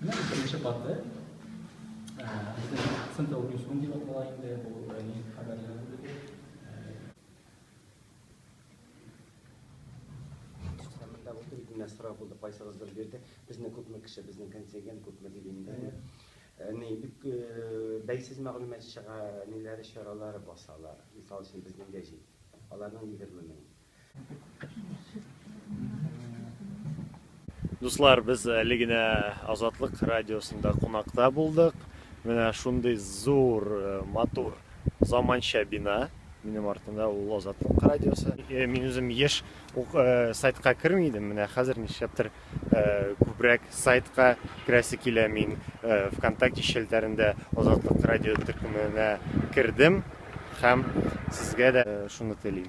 Менә беренче каты. Безнең центр Ньюсрум дип атала инде, бу районның хәбәрләре бүлеге. Сәмендә булды, идене сорап булды, кайсыгыздыр бирде. Безне күпме кеше, безнең контингент күпме дип инде. Ни, бик бәйсез мәгълүмат чыга, ниләре чаралары басалар. Мисал өчен безнең гәҗит. Аларның 20 мең. Дуслар, без әле генә Азатлык радиосында кунакта булдык. Менә шундый зур, э, матур, заманча бина. Минем артында ул Азатлык радиосы. Э, мин үзем еш ук э, сайтка керми идем. Менә хәзер нишләптер э, күбрәк сайтка керәсе килә. Мин э, ВКонтакте челтәрендә Азатлык радио төркеменә кердем һәм сезгә дә э, шуны телим.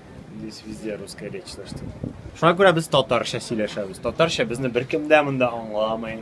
Здесь везде русская речь, так что... Шуңа күрә без татарча сөйләшәбез. Татарча безне беркем дә монда аңламый.